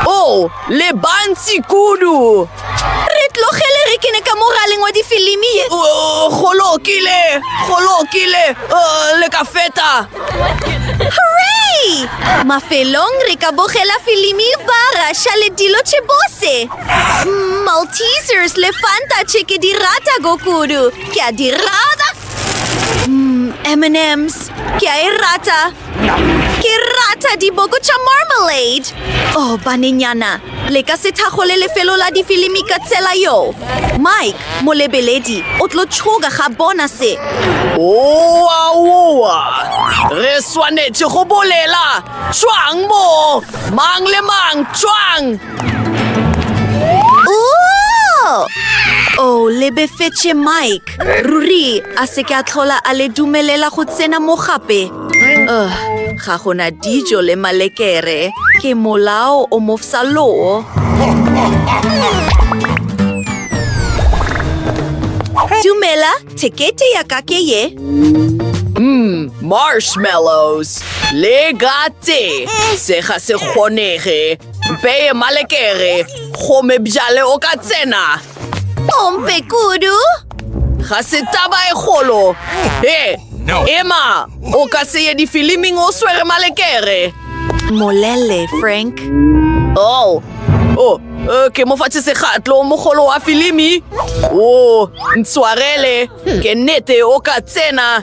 O, le bantsi kudu. Re tlogele re kene ka mo raleng wa difilimi ye. O, go lokile, go lokile, o, le ka feta. Hooray! Mafelong re ka bogela filimi ba Russia le dilo tše bose. Mm, Maltesers le Fanta tše ke di rata go kudu. Ke a di rata. Mm, M&Ms, ke a e rata. Ke rata diboko tša Marmalade! Oh, banenyana, le ka se thakgole lefelo la difilimi ka tsela yo. Mike, molebeledi, o tlo tšhoga ga bona se. Oa, oa! Re swanetše go bolela! Tšwang moo! Mang le mang, tšwang! o lebefetše mike ruri a se ke a tlhola a le dumelela go tsena mo gape uh, ga gona dijo le malekere ke molao o mofsa loo dumela tekete ya ka ke ye mm, marshmallows le gate se ga se kgonege Mpeye malekere, gome bjale o ka tsena. Ompe kudu. Ga se taba e golo. He, ema, o ka se ye difiliming o swere malekere. Molele, Frank. Oh, oh, eh, ke mo fatše segatlo mogolo wa filimi. O, oh, ntshwarele, ke nnete o ka tsena.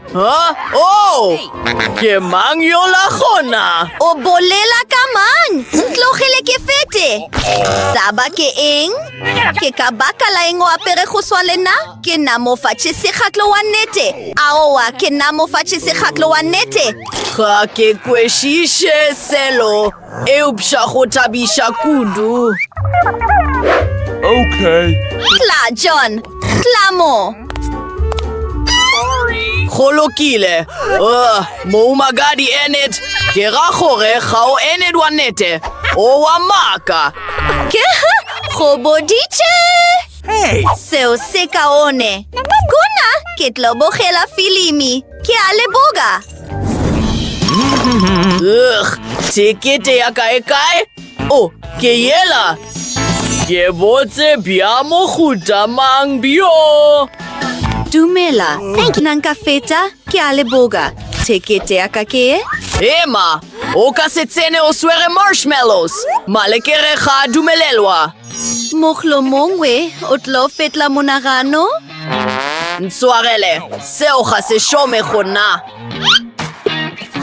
Huh? Oh! Ke mang yola gona? O bolela ka mang? Ntlogele ke fete. Taba ke eng? Ke ka baka la eng o apere go swa le nna? Ke na mo fatshe segatlo wa nnete. Aowa, ke na mo fatshe segatlo wa nnete. Ga ke kwešiše selo. Eupša go thabiša kudu. Okay. Tla, John. Tla mo. Go lokile. Uh, moumagadi Enid, ke ra gore ga o Enid wa nete. O wa maka. Ke go boditše. Hey. Seo se kaone. Kuna ke tlo bogela filimi. Ke a leboga! Ugh, tekete ya kae kae? Oh, ke yela! Ke botse bja mohuta mang bjo? Dumela, thank you. Nang ka feta, ke a leboga. Tekete ya ka ke e? Ema, o ka se tsene o swere marshmallows. Malekere ga a dumelelwa. Mohlomongwe o tlo fetla monagano? Ntswagele, seo ga se šome go nna.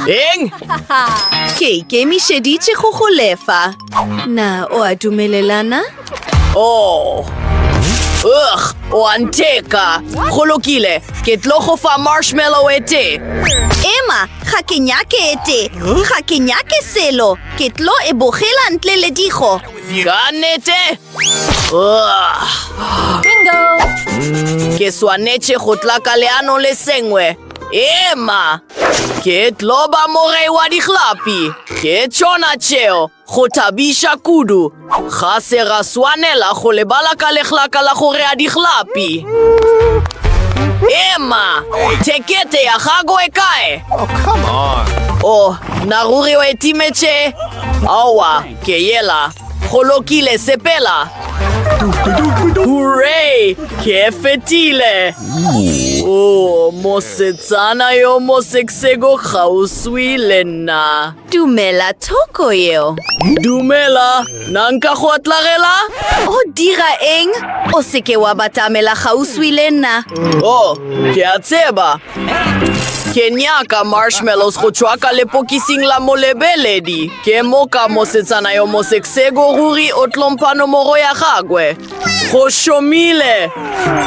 Eng? Ke ikemišeditše go go lefa. Na o a dumelelana? Oh. Ugh, o a ntheka. Go lokile, ke tlo go fa marshmallow e te. Emma, ga ke nyake e te. Ga ke nyake selo. Ke tlo e bogela ntle le digo. Ka nete! Bingo! Ke swanetše go tla ka leano le sengwe. Ema! Ke tlo ba morei wa dihlapi. Ke tšona tšeo, go thabiša kudu. Ga se ra swanela go lebala ka lehlaka la go rea dihlapi. Ema! Thekete ya gago e kae? Oh, come on! Oh, na ruri o e timetše? Aowa, Ke yela, go lokile, sepela. Hooray! Ke fetile! Oh, mosetsana yo moseksego kgauswi le nna. Dumela thoko eo. Dumela, na nka go atlagela? O dira eng? O seke wa batamela kgauswi le nna. Oh, ke a tseba, Ke nyaka marshmallows go tšwa ka lepokising la molebeledi. Ke moka mosetsana yo mosekseko ruri o tlompha nomoro ya gagwe. Go šomile!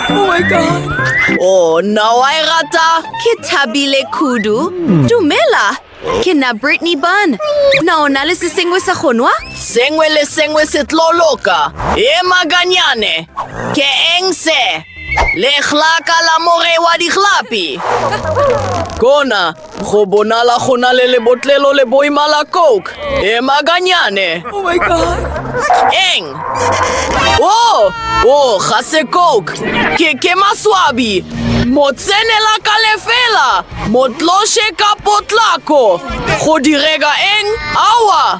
Oh my god! Oh, nna wa e rata? Ke thabile kudu. Dumela, Ke nna Brittany Bun. Na o na le se sengwe sa go nwa? Sengwe le sengwe se tlo loka. E maganyane. Ke eng se? Lehlaka la more wa dihlapi. Kona, go bonala go na le lebotlelo le boima la Coke. E maganyane. Oh my God. Eng? Oh, oh, ga se Coke. Ke, ke maswabi. Motsenela ka lefela. Motloše ka potlako! Go direga eng? Aowa!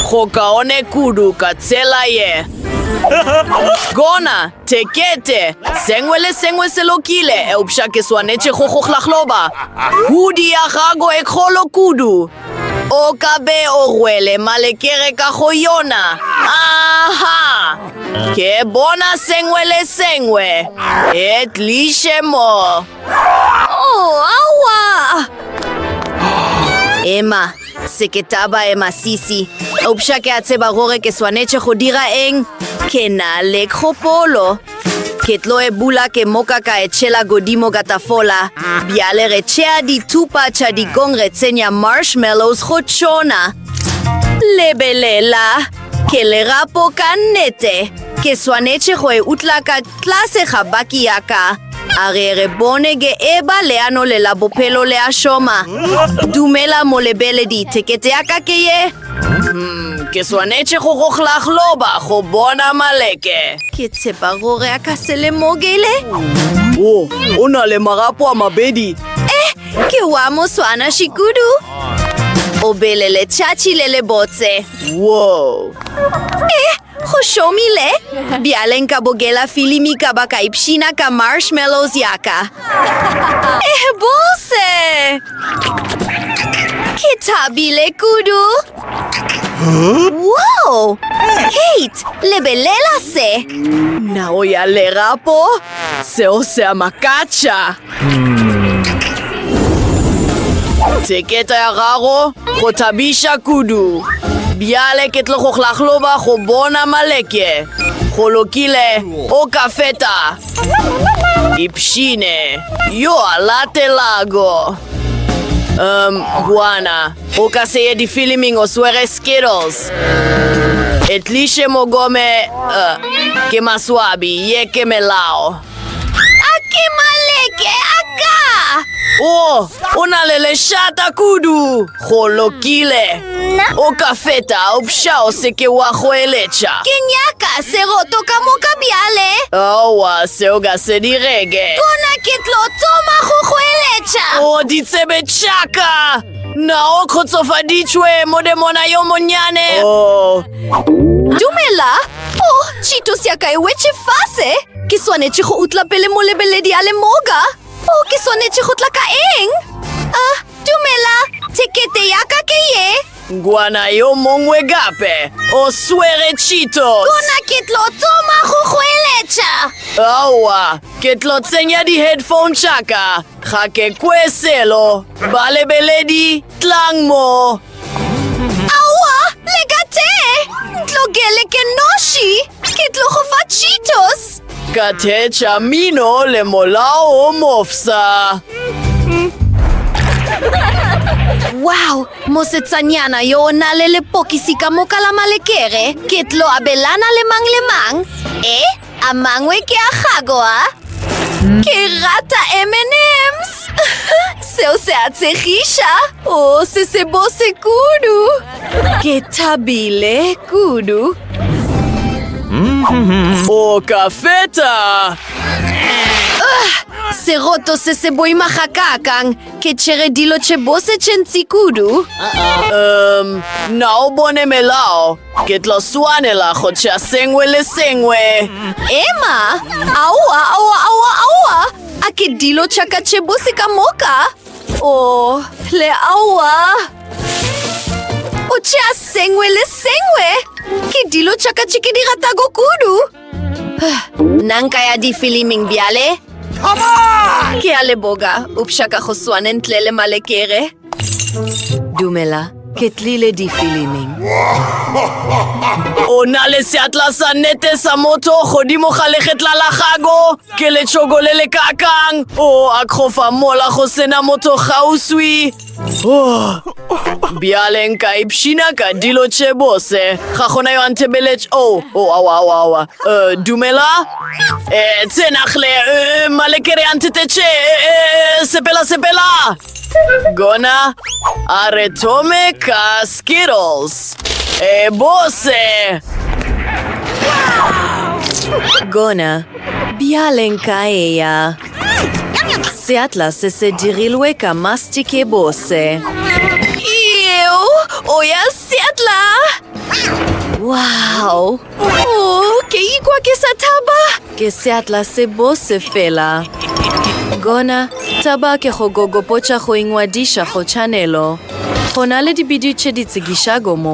Go kaone kudu ka tsela ye. Gona, tekete, sengwe le sengwe se lokile, eupša ke swanetše go go hlahloba. Hudi ya gago e kgolo kudu. O ka be o rwele malekere ka go yona. Aha! Ke bona sengwe le sengwe. E tliše mo. Ema, se ke taba ema sisi. Upša ke a tseba gore ke swanetše go dira eng. Ke na le kgopolo. Ke tlo e bula ke moka ka e tšhela godimo ka tafola. Bjale re tšea dithupa tša dikong re tsenya marshmallows go tšona. Lebelela, ke lerapo ka nnete. Ke swanetše go e utla ka Tlase ga baki ya ka, a ge re bone ge eba leano le la bophelo le a šoma. Dumela molebeledi, thekete ya ka ke ye. Umm, ke swanetše go go hlahloba go bona maleke. Ke tshepa gore a ka se lemogele. Wo, o na le magapo a mabedi. Eh, ke wa moswanaši kudu. O bele letšatši le lebotse. Wo. Eh, Go šomile! Bjale nka bogela filimi ka ba ka ipshina ka marshmallows ya ka. Eh, bose! Ke thabile kudu! Wow! Kate, lebelela se! Nao ya lerapo, seo se a makatša! Theketa ya gago go thabiša kudu. Bjale ke tlo go hlahloba go bona maleke. Go lokile, o ka feta. Ipshine, yo a latelago. Um, bwana, o ka se ye difiliming o swere Skittles. Etliše mogome, uh, ke maswabi, ye ke melao. A ke maleke a ka! O, o na le lešata kudu. Go lokile. Nna? O ka feta upša o se ke wa goeletša. Ke nyaka seroto ka moka bjale. Aowa, seo ga se direge. Gona ke tlo thoma go goeletša. O ditsebe tšaka! Na o kgotsofaditšwe, modemona yo monnyane? O, Dumela! O, tšhito sya ka e wetše fase! Ke swanetše go utla pele molebeledi a le moka. O ke swanetše go tla ka eng? A, dumela, tekete ya ka ke ye. Ngwana yo mongwe gape o swere Cheetos. Gona ke tlo tsoma go goeletša. Aowa, ke tlo tsenya di-headphone tša ka Ga ke kwe selo. Balebeledi, tlang mo. Aowa, le ka te! Ntlogele ke noši! Ke tlo go fa Cheetos! Ka theetša mino le molao o mofsa. Wow, mosetsanyana yo o na le lepokisi ka moka la malekere. Ke tlo abelana le mang le mang. E? A mangwe ke a gago, a? Ke rata M&M's. Seo se a tshegiša. O se se bose kudu. Ke thabile kudu. O ka feta. Seroto se se boima ga kakang. Ke tšhere dilo tše bose tše ntsi kudu. Um, na o bone melao? Ke tlo swanela go tšea sengwe le sengwe. Emma, aowa, aowa, aowa, aowa. A ke dilo tša ka tše bose ka moka? O, oh, le aowa. O tšea sengwe le sengwe. Ke dilo tša ka tše ke di ratago kudu. Nna nka ya difiliming bjale? Ke a leboga, upša ka go swane ntle le malekere. Dumela, ke tlile difiliming. O na le seatla sa nete sa motho godimo ga legetla la gago. Ke letšhoko le le kakang. O a kgofa mola go sena motho gauswi. Oh. Bjale nka ipshina ka dilo tše bose. Ga gona yo a nthebeletše. O, oh, o, oh, awa, awa, awa. Uh, dumela? Eh, tsenagle, uh, eh, malekere a nthetetše. Uh, eh, uh, eh, sepela, sepela. Gona a re thome ka Skittles. E bose! Gona, bjale nka eya. Seatla se se dirilwe ka mastic e bose. Eo, o ya Seatla! Wow! Oh, ke ikwa ke sa thaba. Ke seatla se bo se fela. Gona, taba ke go gogopotša go ingwadiša go tšhanelo. Go na le dibidio tše di tsekišago mo.